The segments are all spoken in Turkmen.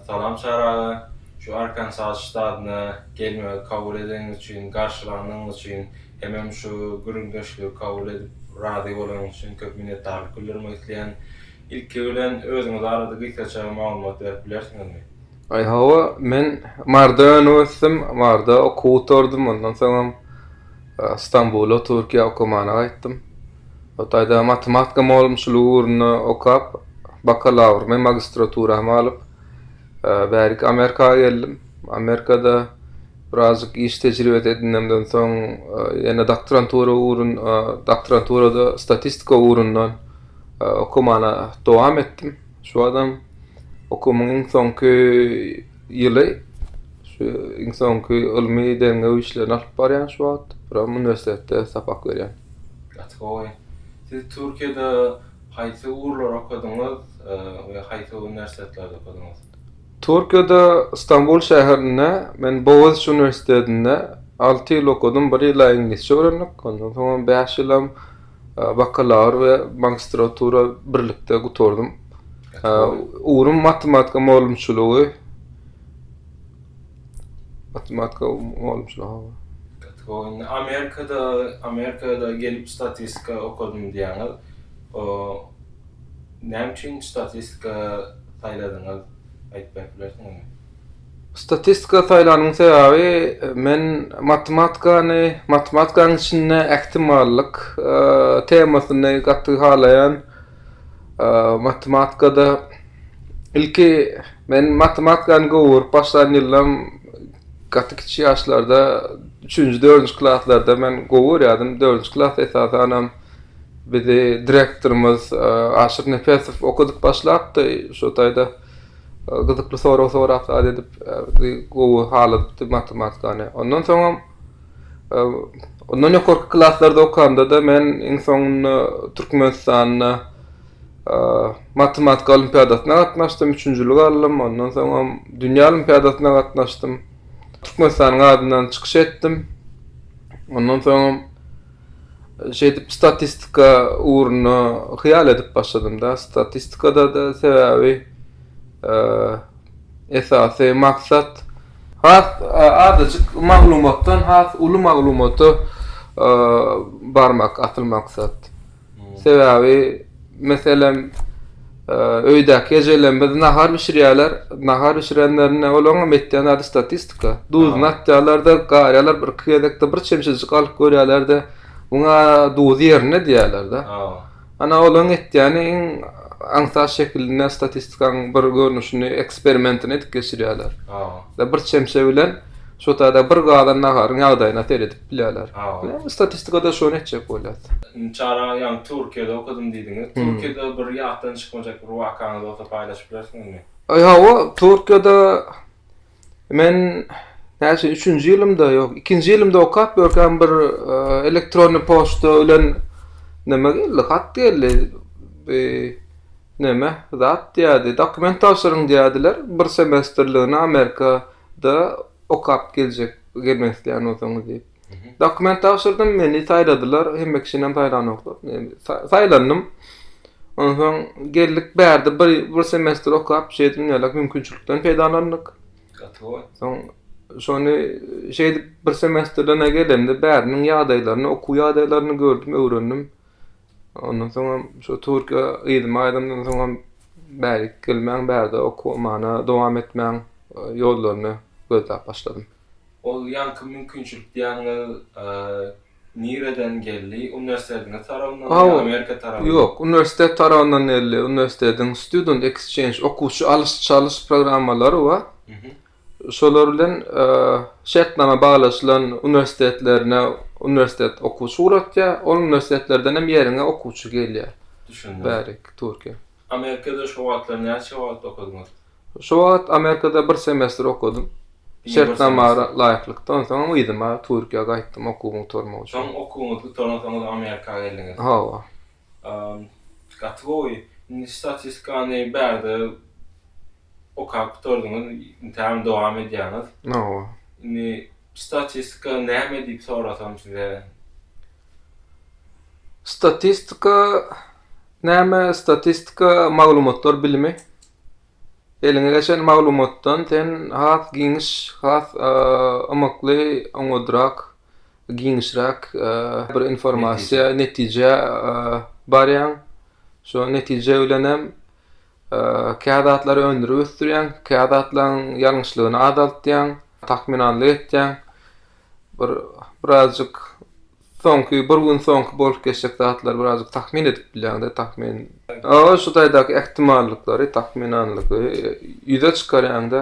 Salam Çary aga. Şu Arkansas ştadyna gelmegi kabul edeniňiz üçin, garşylanyňyz üçin hemem şu gürrüňdeşligi kabul edip razy bolanyňyz üçin köp minnetdarlyk bildirmek isleýän. Ilki bilen özüňiz barada gysgaça maglumat berip bilersiňizmi? Aý hawa, men Maryda önüp ösdüm, Maryda okuw gutardym, ondan soňam Stambula, Türkiýä okamana gaýtdym. O taýda matematika mugallymçylygy ugrunda okap, bakalawrymy, magistraturamy alyp, bärik Amerika geldim. Amerikada birazjyk iş tejribesi edinemden soň, ýene doktorantura ugrun, doktoranturada statistika ugrundan okamana dowam etdim. Şu badam okumyň iň soňky ýyly şu iň soňky ylmy derňew işlerini alyp barýan şu wagt. Bir hem uniwersitetde sapak berýän. Gaty gowy. Siz Türkiýede haýsy ugurlary okadyňyz we haýsy uniwersitetlerde okadyňyz? Türkiýede Stambul şäherinde men Boğaziçi uniwersitetinde alty ýyl okadym. Bir ýyla iňlisçe öwrendik. Ondan soň bäş ýylam Bakalawr we magistratura birlikde gutardym. Ugrym matematika mugallymçylygy. Matematika mugallymçylygy. Indi Amerikada, Amerikada gelip statistika okadym diýýäňiz. O näme üçin statistika saýladyňyz? Aýdyp berip bilersiňizmi? Statistika saýlanyň sebäbi men matematikany, matematikanyň içinde ähtimallyk temasyny gaty halaýan. Matematikada ilki men matematikany gowy görüp başlan ýyllaram gaty kiçi ýaşlarda üçünji, dördünji klaslarda men gowy görýärdim. Dördünji klas esasanam bizi direktorymyz Aşyr Nepesow okadyp başlapdy. Şo taýda gyzykly sorag sorap zat edip bizi gowy haladypdy matematikany. Ondan soňam e, ondan ýokarky klaslarda okanda-da men iň soňunda Türkmenistanda e, matematika olimpiadasyna gatnaşdym, üçünjilik aldym. Ondan soňam dünýä olimpiadasyna gatnaşdym. Türkmenistanyň adyndan çykyş etdim. Ondan soňam Şeýdip statistika ugruna hyýal edip başladym-da. Statistikada-da sebäbi esasy maksat has azajyk maglumatdan has uly maglumata barmak asyl maksat. Sebäbi, meselem, öýdäki ejelerimiz nahar bişirýärler. Nahar bişirenlerinde olaryňam etýän zady statistika. Duzuny atýarlar-da, garýarlar, bir-iki gezekde bir çemçejik alyp görýärler-de, Muňa duz ýerine diýýärler-de. Ana, olaryň etýäni iň aňsat şekilinde statistikanyň bir görnüşini, eksperimentini edip geçirýärler. Bir çemçe bilen şo taýda bir gazan naharyň ýagdaýyna seredip. bilýärler. Statistikada şony etjek bolýas. Çara ýaňy Türkiýede okadym diýdiňiz. Türkiýede bir ýatdan çykmajak bir wakaňyz bolsa paýlaşyp bilersiňizmi? Hawa, Türkiýede men näçe üçünji ýylymda, ýok, ikinji ýylymda okap ýörkäm bir elektronnyý poçta bilen neme geldi, hat geldi. Bi neme zat diýýärdi, dokument tabşyryň diýýärdiler, bir semestrligine Amerikada okap geljek. Girmek isteyen bolsaňyz diýip. Dokument tabşyrdym, meni saýladylar, hemme kişinem saýlanoklar. Saýlandym. Ondan soň geldik bärde bir bir semestr okap, şeýle dünýälik mümkinçilikden peýdalandyk. Gatowa. Soň şony şeýle bir semestrden gelemde bäriniň ýagdaýlaryny, okuw ýagdaýlaryny gördüm, öwrendim. Ondan soňam şu türkiýe yzyma aýdymdan soňam bärik gelmäň bärde okumana dowam etmäň ýollaryny gözläp başladym. Ol ýaňky mümkinçilik diýýäňiz nireden geldi? Uniwersitetiňiz tarabyndanmy ýa Amerika tarabyndanmy? Ýok, uniwersitet tarabyndan geldi. Uniwersitetiň student exchange, okuwçy alyş-çalyş programmalary bar. şolar bilen şertnama baglaşylan uniwersitetlerine uniwersitet okuwçy ugratýar, ol uniwersitetlerden hem ýeriňe okuwçy gelýär. Düşündim. Bäri Türkiýä. Amerikada şu wagtlar näçe wagt okadyňyz? Şu wagt Amerikada bir semestr okadym. Şertnama laýyklykda, onsoňam yzyma Türkiýä gaýtdym okuwymy gutarmak üçin. Soň okuwyňyzy gutaransoňyz Amerika geldiňiz. Hawa. Gaty gowy. Indi statistikany bärde okap gutardyňyz, intägem dowam edýäňiz. Hawa. Indi statistika näme diýip sorasam size? Statistika näme? Statistika maglumatlar bilimi. Eliňe geçen maglumatdan sen has giňiş, has ymykly, oňodrak giňişräk bir informasiýa, netijä barýaň. Şo netije bilen hem kä zatlary öndürip ösdürýäň, kä zatlaryň ýalňyşlygyny azaltýaň, takmynanlyk etýäň. Bir birazjyk soňky bir gün soňky bolup geçjek zatlary birazjyk takmyn edip bilýäň-de, takmyn. Oba, şu taýdaky ähtimallyklary, takmynanlygy ýüze çykarýaň-da.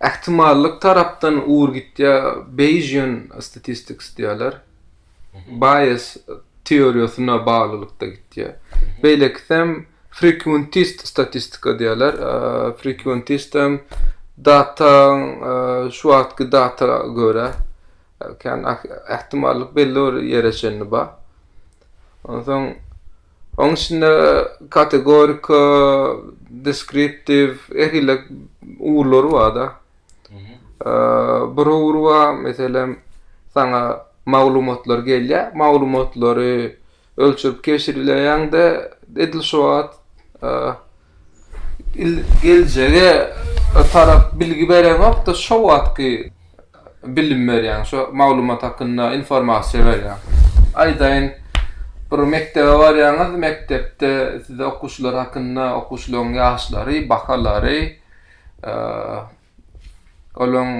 Ähtimallyk tarapdan ugur gitýär, Beýjian statistics diýýärler. Bias teoriýasyna baglylykda gitýär. Beýlekisem frequentist statistika diýýärler. Frequentist hem data şu wagtky data görä kän ähtimallyk belli bir ýere çenli bar. Onsoň Onuň içinde kategorika, deskriptiw, her hili ugurlary bar-da. Bir ugur bar, meselem, saňa maglumatlar gelýär, maglumatlary ölçerip keşirleýäň-de, edil şu wagt geljege tarap bilgi bereňokda, şo wagtky. bilim berýäň, şo maglumat hakynda informasiýa berýäň. Aýdaýyn, bir mekdebe barýaňyz, mekdepde size okuwçylar hakynda, okuwçylaryň ýaşlary, bahalary, olaryň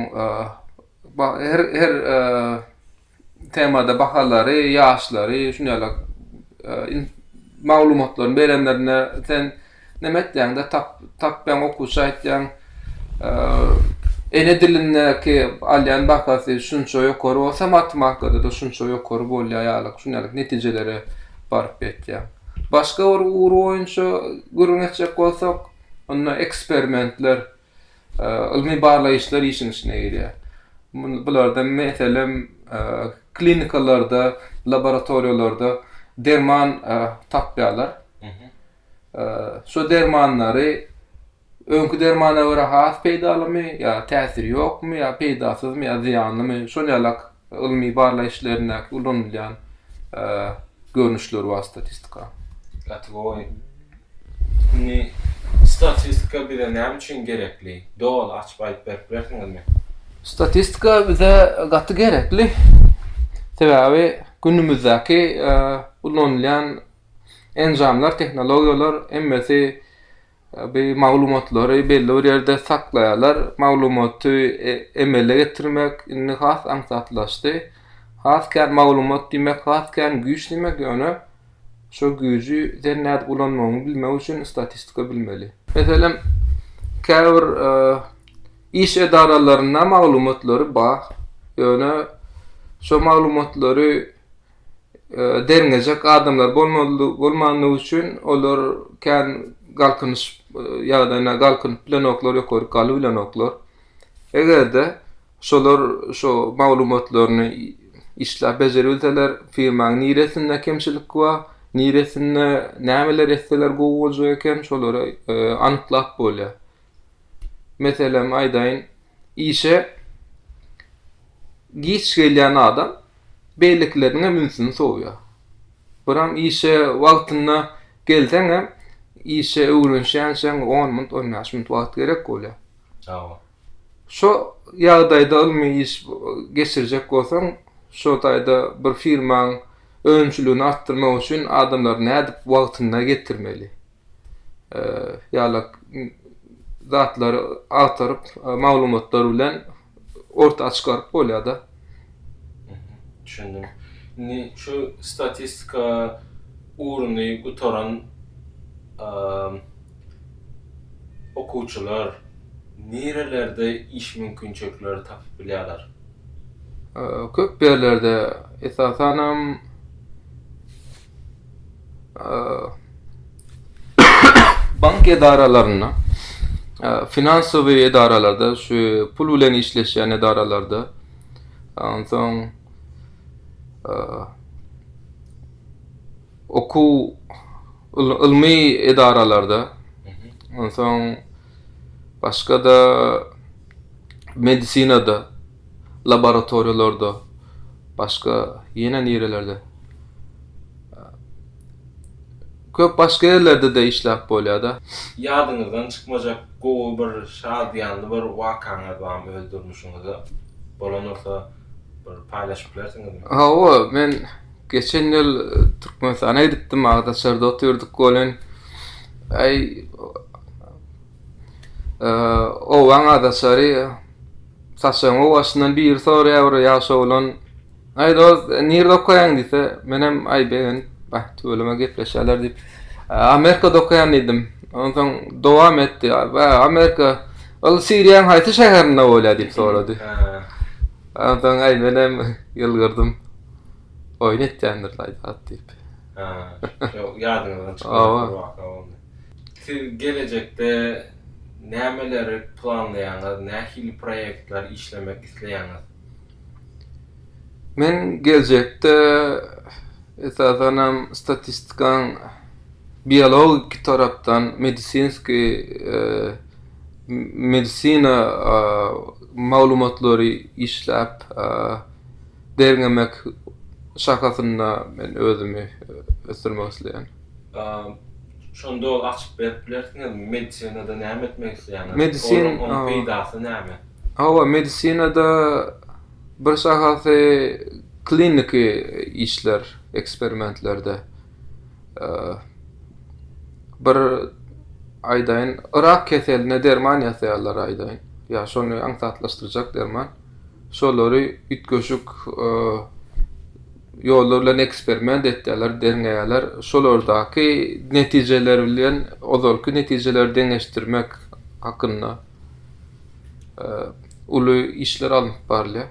her-her temada bahalary, ýaşlary, şuny ýaly maglumatlaryny berenlerine sen näme etýäňde tap tapýaň okuwça aýtýaň ene dilindäki alýan bahasy şunça ýokary bolsa matematikada da şunça ýokary bolýar ýaly şuny ýaly netijelere baryp ýetýär. Başga bir ugur boýunça gürrüň etjek bolsak onda eksperimentler ylmy-barlaýyşlar işiň içine girýär. Bularda, meselem, klinikalarda, laboratoriýalarda derman tapýarlar. Şo dermanlary öňki dermana görä has peýdalymy ýa täsiri ýokmy ýa peýdasyzmy ýa zyýanlymy, şol ýalak Ylmy-barlag işlerindäki ulanylýan görnüşleri bar statistika. Gatygoý. Indi statistika bize näme üçin gerekli? Doly açyp aýdyp berip bilersiňizmi? Statistika bize gaty gerekli. Sebäbi günümizdäki ulanylýan enjamlar, tehnologiýalar hemmesi Tabi maglumatlary belli bir ýerde saklaýarlar. Maglumaty e, emele getirmek indi has aňsatlaşdy. Has kän maglumat diýmek, has kän güýç diýmek, ýöne şo güýji sen nädip ulanmagyňy bilmek üçin statistika bilmeli. Meselem, käbir e, iş edaralarynda maglumatlary bar, ýöne şo maglumatlary derňejek adamlar bolmandygy üçin olar kän galkynyş ýagdaýyna galkynyp bilenoklar, ýokaryk galyp bilenoklar. Eger-de şolar şu maglumatlaryny işläp bejeribilseler, firmaň niresinde kemçilik bar, niresinde nämeler etseler gowy boljak eken, şolary anyklap bolýar. Meselem aýdaýyn. işe giç gelýän adam beýlekileriniň hem ünsüni sowýar. Buram işe wagtynda gelseň hem işe öwrenişýänçäň on minut, on bäş minut wagt gerek bolýar. Hawa. Şo ýagdaýda ylmy iş geçirjek bolsaň, şo taýda bir firmaň önümçiligini artdyrmak üçin adamlary nädip wagtynda getirmeli? ýaly zatlary agtaryp maglumatlar bilen orta çykaryp bolýar-da. Düşündim. Indi şu statistika ugruny gutaran okuwçylar nirelerde iş mümkinçilikleri tapyp bilýärler? Köp ýerlerde, esasanam bank edaralarynda, finansowy edaralarda, şu pul bilen işleşýän edaralarda, onsoň okuw ylmy edaralarda, onsoň başga-da medisinada, laboratoriýalarda, başga ýene nirelerde, köp başga ýerlerde-de işläp bolýar-da. Ýadyňyzdan çykmajak gowy bir şadyýanly bir wakaňyz barmy öz durmuşyňyzda? Bolan bolsa bir paýlaşyp bilersiňizmi? Hawa, men geçen ýyl Türkmenistana gidipdim, Agdaçarda otyrdyk welin, äý, Owaň adaçary saçagyň owaşyndan biri soraýar bir ýaş oglan. Aý dost, nirde okaýaň diýse, menem aý begenip, bah, tüweleme gepleşýärler diýip, Amerikada okaýan diýdim. Onsoň dowam etdi. Ba, Amerika, ol Siriýaň haýsy şäherinde bolýar diýip sorady. Onsoň aý menem ýylgyrdym. Oýun etýändir aý zat diýip. Ýadyňyzdan çykmady bu waka onda. Siz gelejekde nämeleri planlaýaňyz, nähili proýektler işlemek isleýäňiz? Men geljekde esasanam statistikaň biologiki tarapdan medisinski medisina maglumatlary işläp Derňemek şakasynda men özümi ösdürmek isleýän. Şonda ol açyp berip bilersiňizmi medisinada näme etmek isleýäňiz? Medisin onuň peýdasy näme? Hawa medisinada bir şahasy kliniki işler eksperimentlerde bir aýdaýyn rak keseline derman ýasaýarlar aýdaýyn ýa şony aňsatlaşdyrjak derman. Şolary üýtgeşik ýollar bilen eksperiment etýärler, derňeýärler. Şolardaky netijeler bilen ozalky netijeleri deňeşdirmek hakynda uly işler alnyp barylýar.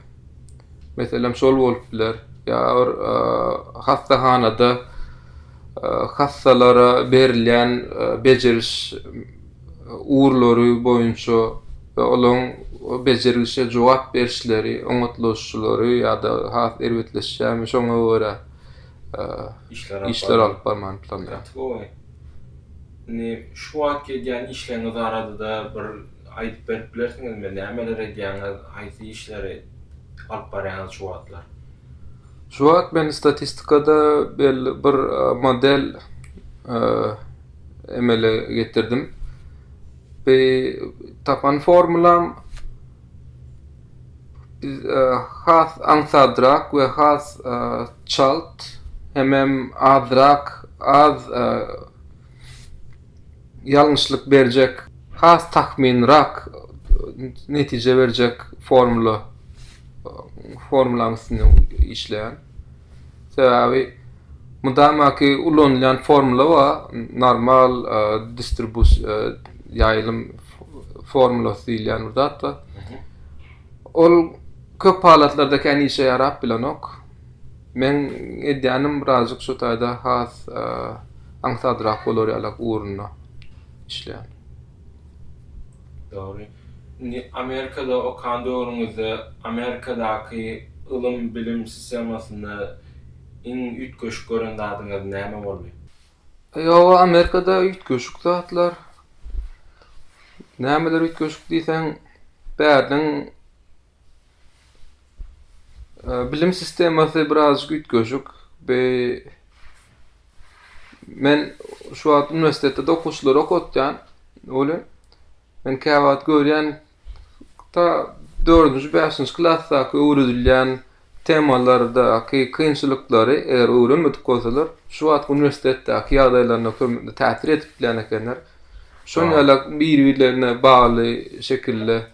Meselem, şol bolup biler, ýa bir hassahanada hassalara berilýän bejeriş ugurlary boýunça we olaryň bejerilişe jogap berişleri oňatlyşylary ýa-da has erbetleşýärmi, şoňa görä işler alyp barmany planlaýar. Indi şu wagtky edýän işleriňiz barada-da bir aýdyp berip bilersiňizmi? Nämeler edýäňiz, haýsy işleri alyp barýaňyz şu wagtlar? Şu wagt men statistikada belli bir model emele getirdim. Bi tapan formulam biz e, has aňsadrak we has e, çalt hemem azrak az e, ýalňyşlyk berjek has takminrak netije berjek formula formulaň üstünde işleýän sebäbi Mydamaky ulanylýan formula bar, normal distribus ýaýlym formulasy diýilýän bir zat bar. Ol köp halatlarda kän işe ýarap bilenok. Men edýänim birazjyk şu taýda has aňsadrak bolar ýalak ugrunda işleýän. Dogry. Indi Amerikada okan döwrüňizde Amerikadaky ylym-bilim sistemasynda Iň üýtgeşik gören zadyňyz näme boldy? Ýoga Amerikada üýtgeşik zatlar nämeler üýtgeşik diýseň bäriniň bilim sistemasy birazajyk üýtgeşik men şu wagt uniwersitetde-de okuwçylary okatýan welin men käwagt görýän Hatda dördünji, bäşinji klasdaky öwredilýän temalardaky kynçylyklary eger öwrenmedik bolsalar, şu wagtky uniwersitetdäki ýagdaýlaryna köm-ä täsir edip bilýän ekenler. Şonuň Wah. ýaly bir-birlerine bagly şekilde.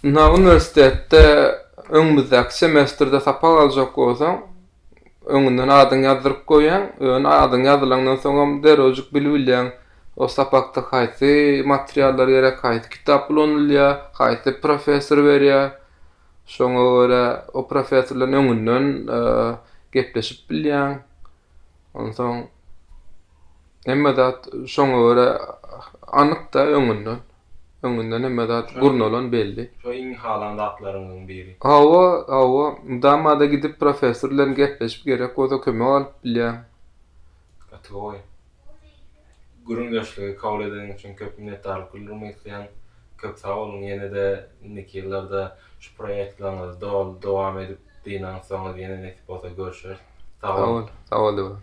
Ynha, uniwersitetde öňümizdäki semestrde sapak aljak bolsaň, öňünden adyňy ýazdyryp goýýaň. Ýöne adyň ýazylandan soňam derrewjik bilip bilýäň, o sapakda haýsy materiallar gerek, haýsy kitap ulanylýar, haýsy professor berýär. Şoňa görä o professor bilen öňünden gepleşip bilýäň. Onsoň hemme zat şoňa görä anyk-da öňünden. Öňünden hemme zat gurnalan belli. Şo iň halan zatlaryňyzyň biri. Hawa, hawa. Mydama-da gidip professor bilen gepleşip gerek bolsa kömek alyp bilýäň. Gaty gowy. Gürrüňdeşligi kabul edeniň üçin köp minnetdarlyk bildirmek isleýän. Köp sag boluň. Ýene-de indiki ýyllarda şu proýektlaňyzy doly dowam edip dynansoňyz ýene nesip bolsa görüşeris. Sag boluň. Sag bol, sag bol Döwran.